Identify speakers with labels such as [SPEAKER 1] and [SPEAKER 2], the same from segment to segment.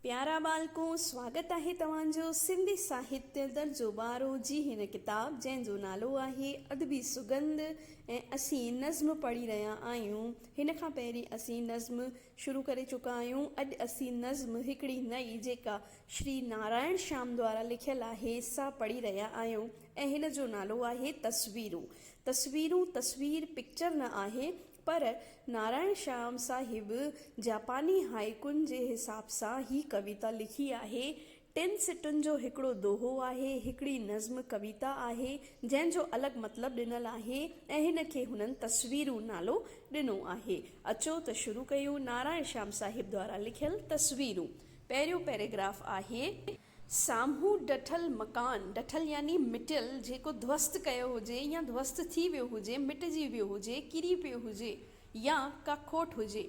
[SPEAKER 1] پيارا ٻالڪو، سواگت آهي توهان جو سنڌي ساهتيه درجو ٻارهون جي هن ڪتاب جنهن جو نالو آهي ادبي سڳنڌ ۽ اسين نظم پڙهي رهيا آهيون. هن کان پهرين اسين نظم شروع ڪري چڪا آهيون. اڄ اسين نظم هڪڙي نئين جيڪا شري نارائڻ شيام دوارا لکيل آهي سا پڙهي رهيا آهيون ۽ هن جو نالو آهي تصويرون. تصويرون تصوير، Picture، نه آهي پر نارائڻ شيام صاحب جاپاني هائيڪون جي حساب سان هي ڪويتا لکي آهي. ٽن سٽن جو هڪڙو دوهو آهي، هڪڙي نظم ڪويتا آهي، جنهن جو الڳ مطلب ڏنل آهي ۽ هن کي هنن تصويرون نالو ڏنو آهي. اچو ته شروع ڪيون نارائڻ شيام صاحب دوارا لکيل تصويرون. پهريون پيراگراف آهي. سامهون ڊٺل مڪان، ڊٺل يعني مٽيل، جيڪو ڌوست ڪيو هجي يا ڌوست ٿي ويو هجي، مٽجي ويو هجي، ڪري پيو هجي يا ڪا کوٽ هجي.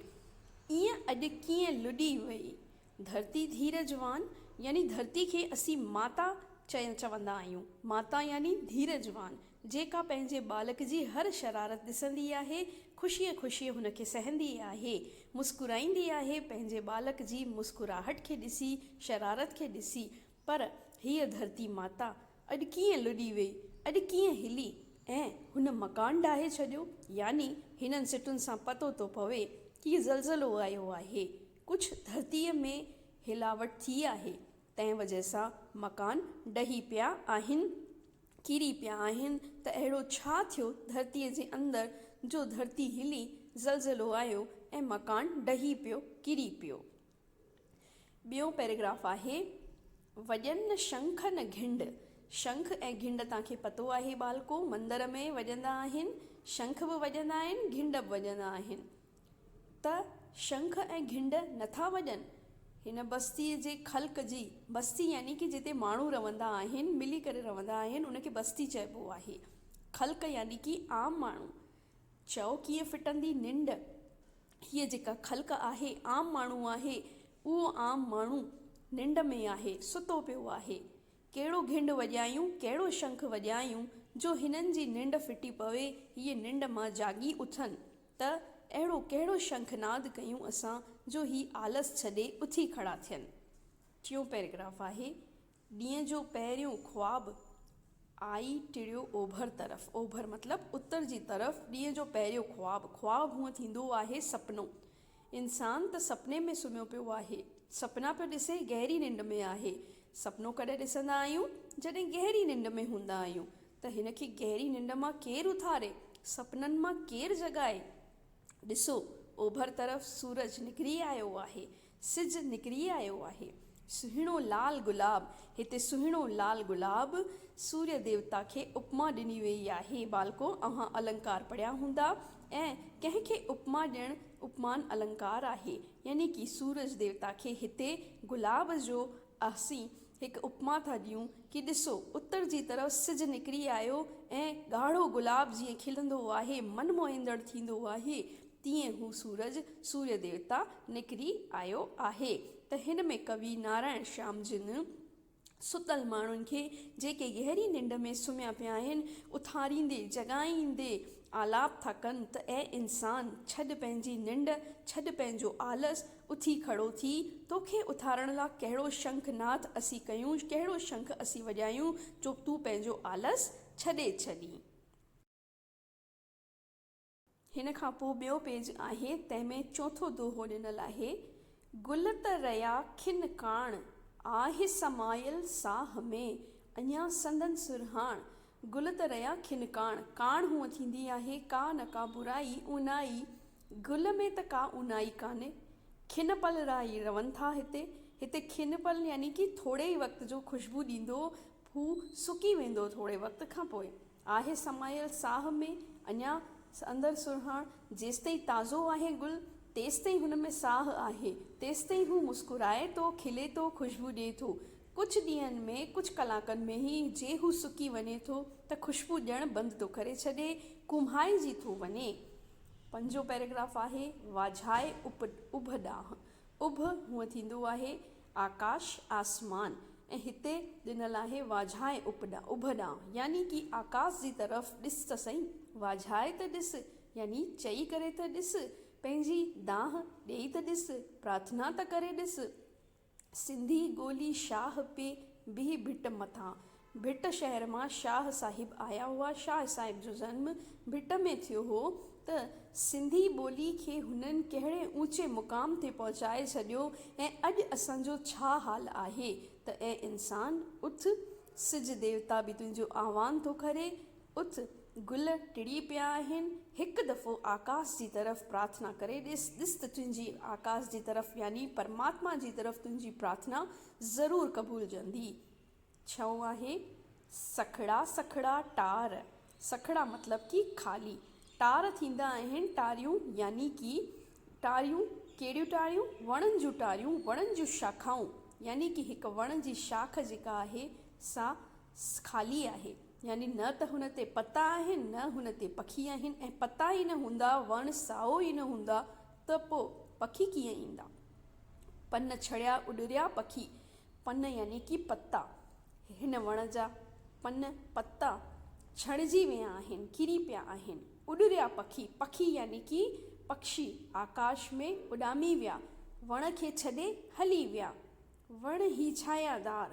[SPEAKER 1] ايئن اڄ ڪيئن لڏي وئي ڌرتي ڌيرج وان يعني ڌرتي کي اسين ماتا چوندا آهيون. ماتا يعني ڌيرج وان. جيڪا پنهنجي ٻالڪ جي هر شرارت ڏسندي آهي، خوشيء خوشيء هن کي سهندي آهي، مسڪرائيندي آهي، پنهنجي ٻالڪ جي مسڪراهٽ کي ڏسي، شرارت کي ڏسي، پر هيء ڌرتي ماتا اڄ ڪيئن لڏي ويئي، اڄ ڪيئن هلي ۽ هن مڪان ڊاهي ڇڏيو، يعني هنن سٽن سان پتو ٿو پوي ڪي زلزلو آيو آهي، ڪجهه ڌرتيء ۾ هلاوٽ ٿي آهي، تنهن وجه سان مڪان ڊهي پيا آهن. ڪري پيا آهن ته اهڙو ڇا ٿيو ڌرتيء جي اندر جو ڌرتي هلي، زلزلو آيو ۽ مڪان ڊهي پيو، ڪري پيو. ٻيون پيراگراف آهي، وڄن نه شنک نه گهنڊ، شنک ۽ گهنڊ توهان کي پتو آهي ٻالڪو، مندر ۾ وڄندا آهن، شنک به وڄندا آهن، گهنڊ به وڄندا آهن. ته شنک ۽ گهنڊ نٿا وڄن. هن بستيء جي خلق جي، بستي يعني ڪي جتي ماڻهو رهندا آهن، ملي ڪري رهندا آهن، ان کي بستي چئبو آهي. خلق يعني ڪي عام ماڻهو. چئو ڪيئن ڦٽندي ننڊ. هيء جيڪا خلق آهي، عام ماڻهو آهي. اهو عام ماڻهو ننڊ ۾ آهي، ستو پيو آهي. ڪهڙو گهنڊ وڄايون، ڪهڙو شنک وڄايون، جو هنن جي ننڊ ڦٽي پوي، هيء ننڊ مان جاڳي اٿن. ته اهڙو ڪهڙو شنک ناد ڪيون اسان جو هي آلس ڇڏي اٿي کڙا ٿين. ٽيون پيراگراف آهي، ڏينهن جو پهريون خواب آئي ٽڙيو اوڀر طرف، اوڀر مطلب اتر جي طرف، ڏينهن جو پهريون خواب، خواب هونء ٿيندو آهي سپنو، انسان ته سپني ۾ سمهيو پيو آهي. سپنا پيو ڏسي گهري ننڊ ۾ آهي. سپنو ڪڏهن ڏسندا آهيون؟ جڏهن گهري ننڊ ۾ هوندا آهيون. ته هن کي گهري ننڊ مان ڪير اٿاري؟ سپنن مان ڪير جڳائي؟ ڏسو! اوڀر طرف سورج نڪري آيو آهي. سج نڪري آيو آهي. سهڻو لال گلاب، هتي سهڻو لال گلاب سوريه ديوتا کي اپما ڏني ويئي آهي. ٻالڪو اوهان النڪار پڙهيا هوندا ۽ ڪنهن کي اپما ڏيڻ اپمان النڪار آهي. يعني ڪي سورج ديوتا کي هتي گلاب جو اهسين هڪ اپما ٿا ڏيون ڪي ڏسو اتر جي طرف سج نڪري آيو ۽ ڳاڙهو گلاب جيئن کلندو آهي من موهيندڙ ٿيندو آهي. تيئن هو سورج، سوريا ديوتا، نڪري آيو آهي ته هن ۾ ڪوي نارائڻ شيام جن ستل ماڻهن کي جيڪي گهري ننڊ ۾ سمهيا پيا آهن اٿاريندي جڳائيندي آلاپ ٿا ڪن ته اي انسان ڇڏ پنهنجي ننڊ ڇڏ پنهنجو آلس اٿي کڙو ٿي توکي اٿارڻ لا ڪهڙو شنک ناٿ اسين ڪيون ڪهڙو شنک اسين وڄايون جو تون پنهنجو آلس ڇڏي ڇڏين. هن کان پوء ٻيو پيج آهي، تنهن ۾ چوٿون دوهو ڏنل آهي، گل ته رئا کن ڪاڻ، آهه سمايل ساهه ۾، اڃا سندن سرهاڻ. گل ته رئا کن ڪاڻ، ڪاڻ هونء ٿيندي آهي، ڪا نه ڪا برائي، اونائي، گل ۾ ته ڪا اونائي ڪانهي. کن پل رئا ئي رون ٿا هتي. هتي کن پل يعني ڪي ٿوري ئي وقت جو خوشبو ڏيندو، هو سڪي ويندو ٿوري وقت کان پوء. آهي سمايل ساهه ۾، اڃا اندر سرهاڻ، جيستائين تازو آهي گل، تيستائين هن ۾ ساهه آهي، تيستائين هو مسڪرائي ٿو، کلي ٿو، خوشبو ڏئي ٿو. ڪجهه ڏينهن ۾، ڪجهه ڪلاڪن ۾ ئي جي هو سڪي وڃي ٿو ته خوشبو ڏيڻ بند ٿو ڪري ڇڏي، ڪومهائجي ٿو وڃي. پنجون پيراگراف آهي، واجهائي اڀ ڏانهن. اڀ هونء ٿيندو آهي، آڪاش، آسمان، ۽ هتي ڏنل آهي واجهائي اپڏان، اڀڏان، يعني ڪي آڪاس جي طرف ڏس ته سهي، واجهائي ته ڏس، يعني چئي ڪري ته ڏس، پنهنجي دانهن ڏيئي ته ڏس، پرارٿنا ته ڪري ڏس. سنڌي ڳولي شاهه پي بيهي ڀٽ مٿان، ڀٽ شهر مان شاهه صاحب آيا هئا. شاهه صاحب جو جنم ڀٽ ۾ ٿيو هو ته سنڌي ٻولي کي هنن ڪهڙي اوچي مقام تي پهچائي ڇڏيو ۽ اڄ اسان جو ڇا حال آهي ته اي انسان اٿ سج ديوتا به تنهنجو آهوان ٿو ڪري اٿ گل ٽڙي پيا آهن هڪ دفعو آڪاس جي طرف پرارٿنا ڪري ڏس ڏس ته تنهنجي آڪاس جي طرف يعني پرماتما جي طرف تنهنجي پرارٿنا ضرور قبولجندي. ڇو آهي سکڙا سکڙا ٽار؟ سکڙا مطلب ڪي خالي ٽار ٿيندا آهن ٽاريون يعني ڪي ٽاريون ڪهڙيون ٽاريون وڻن جون ٽاريون وڻن جون شاخائون يعني ڪي هڪ وڻ جي شاخ جيڪا آهي سا خالي آهي يعني نه ته هن تي پتا آهن نه هن تي پکي آهن ۽ پتا ئي نه هوندا وڻ سائو ئي نه هوندا ته پوء پکي ڪيئن ايندا پن ڇڙيا اڏريا پکي پن يعني ڪي پتا، هن وڻ جا پن، پتا، ڇڻجي ويا آهن، ڪري پيا آهن. اڏريا پکي، پکي يعني ڪي پکشي، آڪاش ۾ اڏامي ويا، وڻ کي ڇڏي هلي ويا. وڻ هي ڇانيا دار،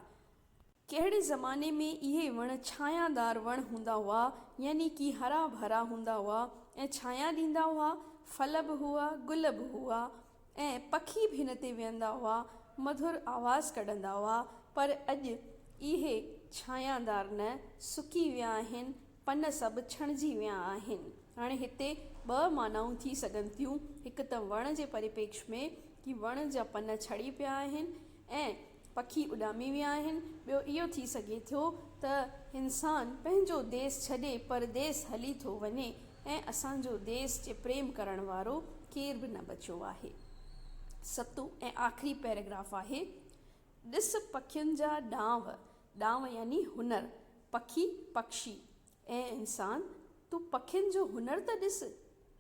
[SPEAKER 1] ڪهڙي زماني ۾ اهي وڻ ڇانيا دار وڻ هوندا هئا، يعني ڪي هرا ڀرا هوندا هئا ۽ ڇانيا ڏيندا هئا، ڦل به هئا، گل به هئا. ۽ پکي به هن تي ويهندا هئا، مڌر آواز ڪڍندا هئا، پر اڄ اهي ڇانيادار نه، سڪي ويا آهن، پن سڀ ڇڻجي ويا آهن. هاڻي هتي ٻه معنائون ٿي سگهن ٿيون، هڪ ته وڻ جي پريپيڪش ۾ ڪي وڻ جا پن ڇڙي پيا آهن ۽ پکي اڏامي ويا آهن، ٻيو اهو ٿي سگهي ٿو ته انسان پنهنجو ديس ڇڏي پرديس هلي ٿو وڃي ۽ اسان جو ديس جي پريم ڪرڻ وارو ڪير به نه بچيو آهي. ستون ۽ آخري پيراگراف آهي، ڏس پکين جا ڏانء، ڏانء يعني هنر، پکي، پکشي، اي انسان! تون پکين جو هنر ته ڏس،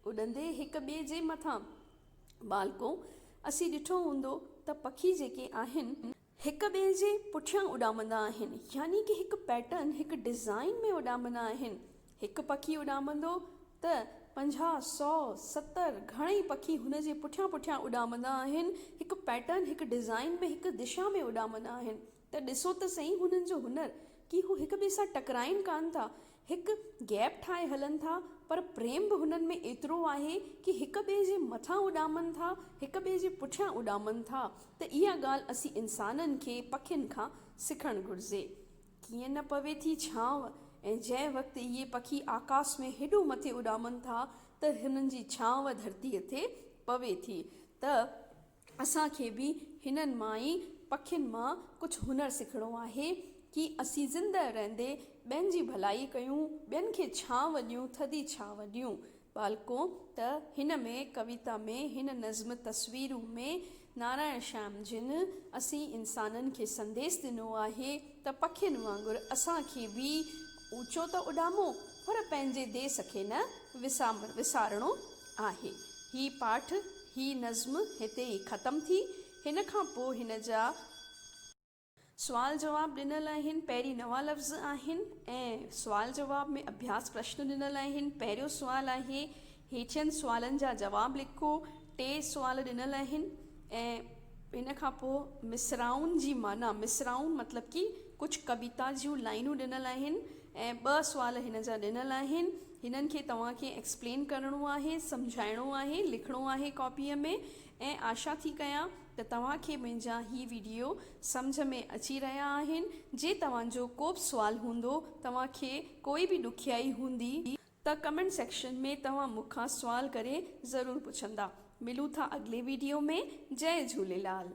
[SPEAKER 1] اڏندي هڪ ٻئي جي مٿان. ٻالڪو! اسين ڏٺو هوندو ته پکي جيڪي آهن، هڪ ٻئي جي پٺيان اڏامندا آهن، يعني ڪه هڪ پيٽرن، هڪ ڊزائين ۾ اڏامندا آهن. هڪ پکي اڏامندو ته پنجاهه، سؤ، ستر گهڻئي پکي هن جي پٺيان پٺيان اڏامندا آهن، هڪ پيٽرن، هڪ ڊزائين ۾ هڪ دشا ۾ اڏامندا آهن. ته ڏسو ته سهي هنن جو هنر ڪي هو هڪ ٻئي سان ٽڪرائين ڪانه ٿا، هڪ گيپ ٺاهي هلن ٿا پر پريم به هنن ۾ ايترو آهي ڪي هڪ ٻئي جي مٿان اڏامن ٿا، هڪ ٻئي جي پٺيان اڏامن ٿا ته اها ڳالهه اسين انسانن کي پکين کان سکڻ گهرجي. ڪيئن نه پوي ٿي ڇانو ۽ جنهن وقت اهي پکي آڪاس ۾ هيڏو مٿي اڏامن ٿا ته هنن جي ڇانو ڌرتيء تي پوي ٿي ته اسان کي به هنن مائي پکين مان ڪجهه هنر سکڻو آهي، ڪي اسين زندهه رهندي ٻين جي ڀلائي ڪيون، ٻين کي ڇانو ڏيون، ٿڌي ڇانو ڏيون. ٻالڪو، ته هن ۾ ڪويتا ۾ هن نظم تصويرون ۾ نارائڻ شيام جن اسين انسانن کي سنديس ڏنو آهي ته پکين وانگر اسان کي به اوچو ته اڏامو پر پنهنجي ديس کي نه وسارڻو آهي. هي پاٺ هي نظم هتي ئي ختم ٿي. هن کان پوء هن جا. سوال جواب ڏنل آهن. پهرين نوان لفظ آهن ۽ سوال جواب ۾ اڀياس پرشن ڏنل آهن. پهريون سوال آهي، هيٺين سوالن جا جواب لکو. ٽي سوال ڏنل آهن ۽ ان کان پوء مصراعن جي معنيٰ، مصراعون مطلب ڪي ڪجهه ڪويتا جون لائينون ڏنل آهن ۽ ٻه سوال هن جا ڏنل آهن. هنن کي توهان کي ايڪسپلين ڪرڻو آهي، سمجهائڻو آهي، لکڻو آهي ڪاپيء ۾ ۽ آشا ٿي ڪيان ته توهان کي منهنجا هي وڊيو سمجهه ۾ اچي رهيا آهن، جي توهان جو ڪوبه سوال هوندو، توهان کي ڪوئي به ڏکيائي هوندي، ته ڪمينٽ سيڪشن ۾ توهان مون کان سوال ڪري ضرور پڇندا، ملون ٿا اڳلي وڊيو ۾ جئي جهوليلال.